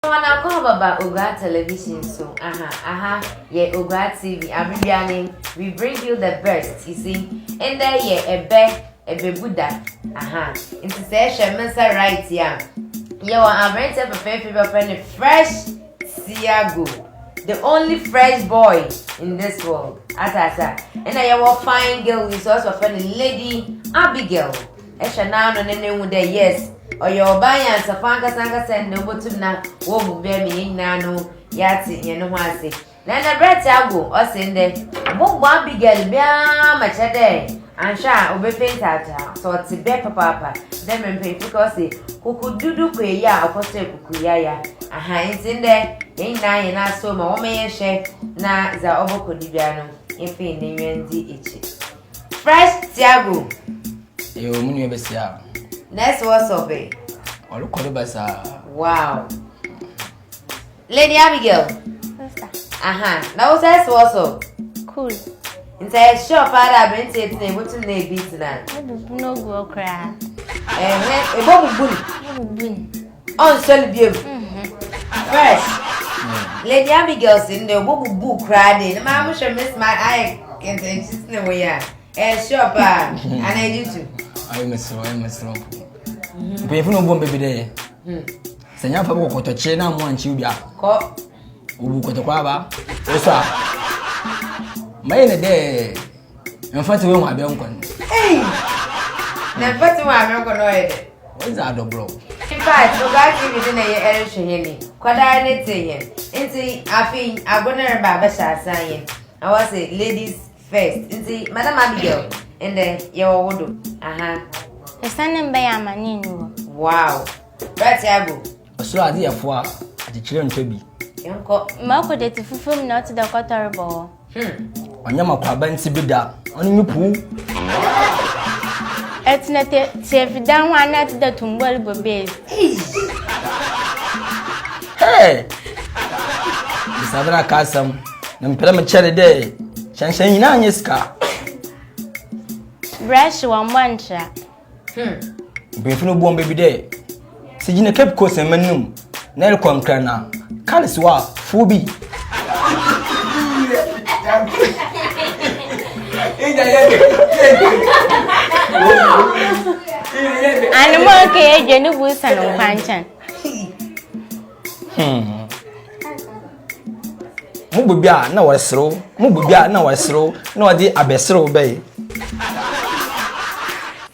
Wɔn akɔ ababa Oguaa Television so aha aha yɛ Oguaa TV abre biara nen we bring you the best you see ndɛ yɛ ɛbɛ ɛbɛbu da aha nti sɛ ɛhwɛ me nsa right yi a yɛ wɔ abranteɛ fɛfɛɛfɛ bi ɔfrɛ ne fresh siago the only fresh boy in this world atata ɛna yɛ wɔ fine girl yi so ɔsɛ ɔfrɛ ne lady Abigail. Hwɛ n'ano na no hu dɛ yes, ɔyɛ ɔbaa nyansafo ankasa ankasa ndɛ obotum na oehu dɛ me hɛn nyina no yɛatse hɛn ho ase. Na nna bra tse agow, ɔse ndɛ mobɔbɔ Abigail biara ma kyerɛ dɛ annhwɛ a obepɛ ntaagyaa, sɛ ɔtse bɛ papaapa dɛ mbrɛ mpanyimfo ka ɔse kukududu kɔ eyi a ɔkɔ sɛ kukuyaya. Aha ntsi ndɛ hɛn nyina hɛn asow ma wɔma yɛnhwɛ na dza ɔbɔkɔ do biara no yɛmfa hɛn enyiwa ndzi ekyir. Fresh Tiago. Eyo eh, mu nua bɛsia. Nurse wɔ sɔbe. Ɔrekɔ ne ba saa. Wow. Lady Abigail. Sister. Aha, na wo sɛ wɔ so. Cool. Nti ɛyɛ sure paa dɛ aberanteɛ tena ebotum na ebi tena. Ebubu no gu ɔkoraa. Ɛhɛ, ebobubu no. Ebubu no. ɔnsɔ no biom first lady abigail si ndɛ ɔbɔbubu koraa de ne maa mo hwɛ miss ma ayɛ kɛntɛnkyi si ne wei a ɛhyɛ paa ana ɛdi tu ayɛ mesoro ayɛ mesoro mpanyinfo na ɔbɔ mbɛbi dɛ yɛ sɛ nyɛ afa bɔ kɔtɔkye na mo ankye bi a kɔ obu kɔtɔkɔ aba ɔsɔ a mayɛ ne dɛ mfa te wehu abɛ nkɔ no na mfa te wehu abɛ nkɔ no ɔyɛ dɛ wɔdze adɔborɔ fact ɔbaa tv de na yɛ ɛrehwɛ yɛ ni kwadaa ne te yɛ nti afei ago ne reba abɛhyɛ ase ayɛ na wɔse ladies first nti madam abigail ndɛ yɛwɔ wo do aha ɛsɛn ne mbɛyɛ amane nni hɔ wow bɛte ago ɔsoro ade yɛfoa akyekyerɛ ntwa bi yɛnkɔ maakɔ dati fufuo mu na ɔte dɛ kɔtɔrebɔ hɔ Ɔnyɛ m'akwaaba nti bi da, ɔne me puu. Ɛtena te teefi dan ho anaa te da tumbɔli bɔ beezi. Hey! Bisabena ka asɛm, ne mpere me kyɛre dɛ, hyɛnhyɛn nyinaa nye sika. Brɛhye wɔmmɔ ntra. Hmm. Mpanyinfo no bu wɔn baabi dɛ sɛ gyina Cape Coast ɛmɛ no mu na ɛrekɔ nkra na kar si hɔ a fuo bi. Anumɔ keye dwe ne bu sanu kwankyɛn. Hmm. Mo bobi a na wɔreserew, mo bobi a na wɔreserew na wɔde abɛserew bɛyɛ.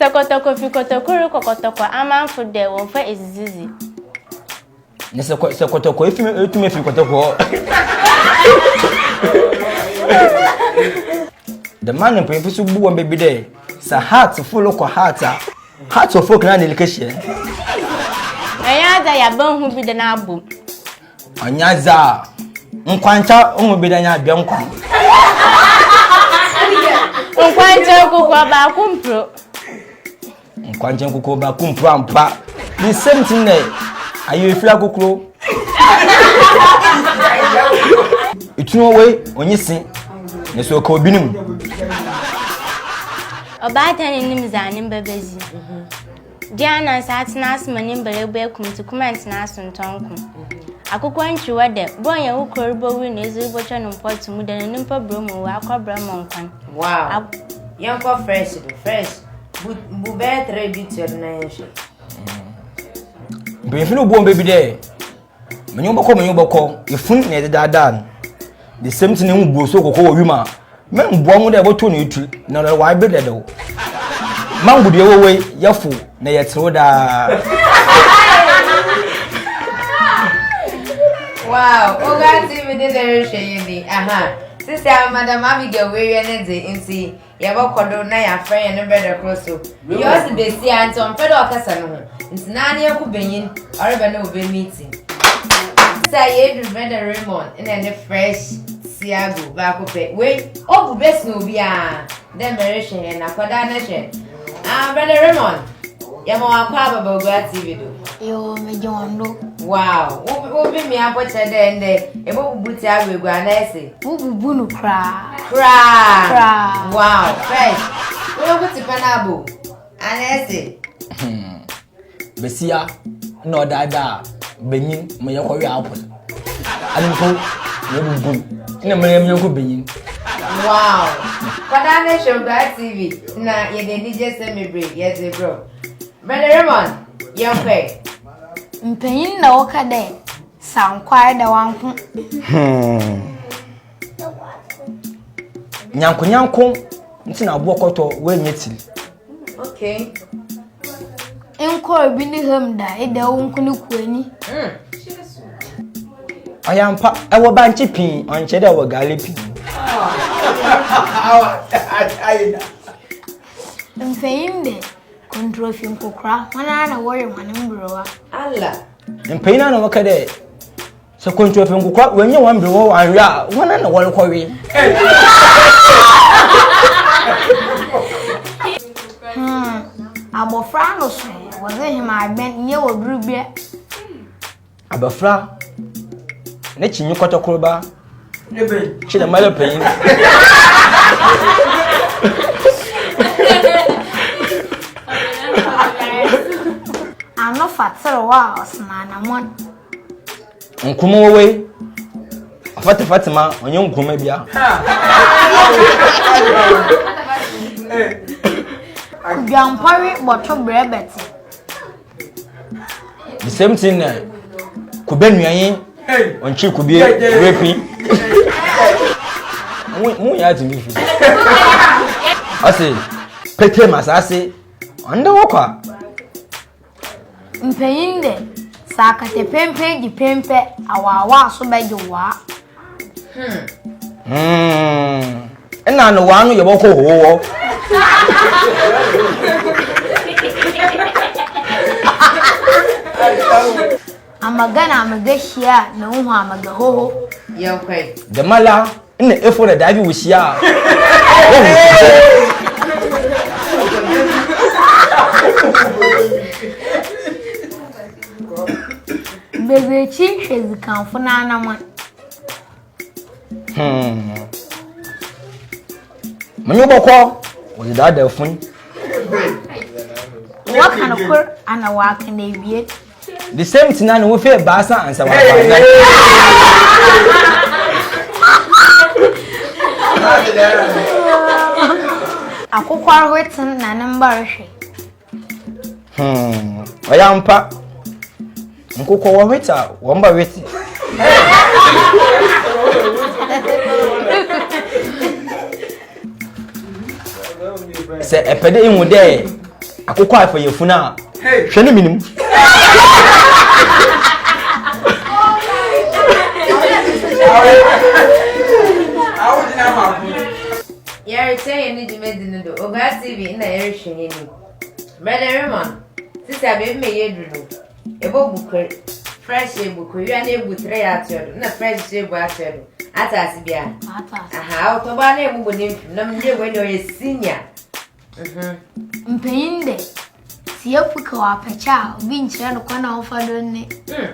Tɔkɔtɔkɔ fi kɔtɔkɔ rekɔ kɔtɔkɔ amanfo dɛ wɔmfa edzidzidzi. Ne sɛ sɛ kɔtɔkɔ efi etumi efi kɔtɔkɔ. Dɛm anampanyin fi so bu wɔn baabi dɛ sɛ heart fo lokɔ heart a. Hearts of Oak na ne like hyɛ. Anya dza yaba hu bi da na abom. Anya dza nkwankyɛ hu bi da nya abia nkwa. Nkwankyɛ nkokoa baako mpro. Nkwankyɛ nkokoa baako mpro ampa. The same thing na ayɛ efiri akokoro. Etunu wei onye se na so ka obi ne mu. Ɔbaatan no nnim dza ne mba bedzi. Gye anansa atsena ase ma ne mba ebu ekum ntsi kum anntsena aso nntɔ nko. Akokɔ ntwiwa dɛ, ber a ɔnye wo kor rebowu na edze robotwa no mpɔtse mu dɛ no ne mpa bura mu owu akɔbra mɔ nkwan. Wow! Ak Yɛnkɔ fresh do, fresh bu bu bɛyɛ three bi toa do na yɛnhwɛ. Mpanyimfo no bu wɔn bɛ bi dɛ. Menye wo bɔkɔ, menye wo bɔkɔ, efun na yɛdze daadaa no. The same thing ehu buo so kɔkɔ wɔ wim a, mɛmboa ho dɛ yɛbɔtow no etsir na ɔdze ɔayɛ ber dɛdɛw. Mango dua ewowo yi, yɛfow na yɛtserew daa. Wow, Oga TV de na ɛrehwɛ yɛ ni. Aha, sisi a Madam Abigail w'awia ne dze nti. Yɛbɔkɔ do na yɛafrɛ hɛn brɛda kor so. Iyi ɔdze basia a nkyɛ ɔmmpɛ dɛ ɔkasa no ho ntsi na ne yɛnko banyin ɔreba na obe meeting. Sɛ yedur Brɛda Raymond na ne fresh Seagull baako pɛ, wei obu bɛsen obiara dɛ merehwɛ hɛn akɔdaa no hwɛ. Ah, Brɛda Raymond! Yɛma wɔn akɔ aba Bagua TV do. Yoo, megye wɔn do. Wow, wo wo bi mi abɔ kyerɛ dɛ ndɛ ebo bubu ti awo egu ana ɛse. Wo bubu no koraa. Koraa. Koraa. Wow, fresh. Wo yɛ ko ti pɛ na abo ana ɛse. Hmm. Besia na ɔdaadaa benyin mo yɛ kɔwe apple. Anemfo na ebu nkum na mmere yɛn yɔnko benyin. Wow! Kwadaa ne Shonkwaa TV na yɛde anigye sɛ mebre yɛdze brɛ wo. Brother Raymond, yɛnkɔe. Mpanyin na wɔka dɛ, Sankwar da wanko. Hmm. nyankonyanko nti na aboɔ kɔtɔ woanyɛ tiri okay nkɔ obi ne ham da ɛda wo nko ne kuani ɔyɛ mpa ɛwɔ bankye pii ɔnkyɛ dɛ ɛwɔ gaale pii mpanyin dɛ kɔntrɔfi nkokora wɔn ara na wɔyɛ wɔn mberewa ala mpanyin na wɔka dɛ Sɛ kwantu afi nkokwa wɔnyɛ wɔn bere wɔ anwea a wɔn na wɔrekɔwe. Hmm, abɔfra no so wɔdze hemagbɛn nyɛ wɔ bere bia. Abɔfra ne kyi nye kɔtɔkorba kyi na mmalɛ panyin. Ano fa tserew a ɔsena anamɔn. Nkume wɔ wei. Afata Fatima ɔnyɛ nkume bia. Dwampɔre bɔto brɛ bɛte. The same thing na kube nuanyi ɔnkye kubie repi. Mu yɛ ati mi fi. Ɔsi pete masase ɔnda wɔ kwa. Mpanyin dɛ, sɛ akɛtɛ penpen gye pen pɛ, awaawaa so bɛgye waa. Hmm. Nna no waa no yɛ wɔkɔ howɔ. Amaga na amaga hyia na wohu amaga hoho. Yɛnkɔe. Dɛmala Nna efo na daevi wo hyia a wo hu sɛ. Bebe ekyi nhwɛ zikanfo n'anaman. Hmm. Menye wobɔkɔ wɔdze daadaa fun. Wɔka no kor ana wɔaka no ewie. The same thing na ne wofi ebaasa ansa wa ba na. Akokwa retem na ne mba rehwe. Hmm, ɔyɛ ampa. Nkokɔ wɔ hwete a wɔn ba hwete. sɛ ɛpɛ dɛ ihu dɛ akokɔ afa yɛ funu a hwɛ ne menim yɛrekyɛ yɛn ne dwumadi no do ogaa tv na yɛrehwɛ yɛn ni brɛdɛ remon sisi a baabi ma yɛ aduru no Ebobu kor, fresh ebu kor, wia na ebu tere ato do, na fresh so ebu ato do. Ate ase bi a? Ate ase. Aha, awotɔ baa na ebubu ne mfim, na mede wei na ɔyɛ senior. Mhm. Mpanyin dɛ, sɛ yɛfo ka wɔ apɛkyɛ a, obi nkyerɛ no kwan a ɔmfa do ne. Mm.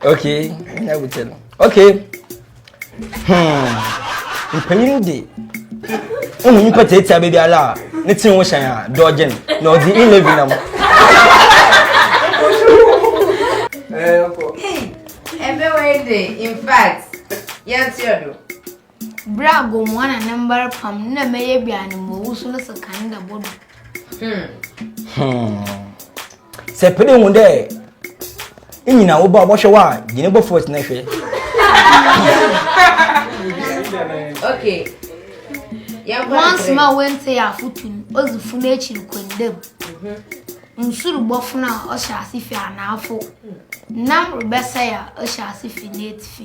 okay na wotɛ no okay hmm. mpanyin de wohu nipa tiatia baabi ala a ne tiri ho hyɛn a dɔɔgye no na ɔde eleven nam ɛbɛwɛ de in fact yɛnteɛ do Ber a Gomoa na ne mbar pam no na mɛyɛ bi a ne mba owusu no sekan da bɔ do. Hmm. Sɛ pɛ dɛ hu dɛ inyina wo ba ɔbɔhwɛ wo a, gye ne bɔfo esi na hwɛ. Okay. Once ma wente yɛ afotu no, odzi fun ekyir kɔ ndam. Mhm. Nsu robɔfon a ɔhyɛ ase fi anaafo. Nam rebɛsɛe a ɔhyɛ ase fi n'etsifi.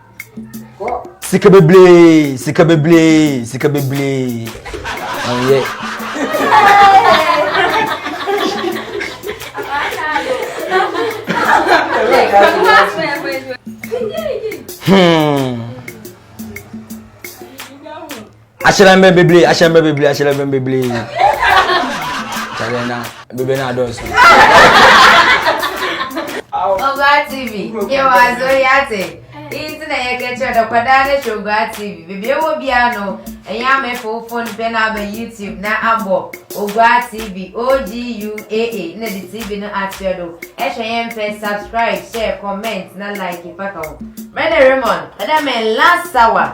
sika bebree sika bebree sika bebree ɔnyɛ. Hmm. ahyerɛnbɛn bebree ahyerɛnbɛn bebree ahyerɛnbɛn bebree kyɛlɛ na bebree na adɔɔso. Ọba TV yẹ wọ azọ yẹ ate iyi nti na yẹ kẹkyẹ dẹ kwadaa ne hwẹ Ọba TV beebi ewọ biara no ẹnyẹ ama efa wo phone pẹ na aba YouTube na abọ Ọba TV OGUAA na de TV no akyerɛ do ɛhwɛ yɛn pɛ subscribe share comment na like faka ho. Mɛda Raymond ɛda mɛ last hour.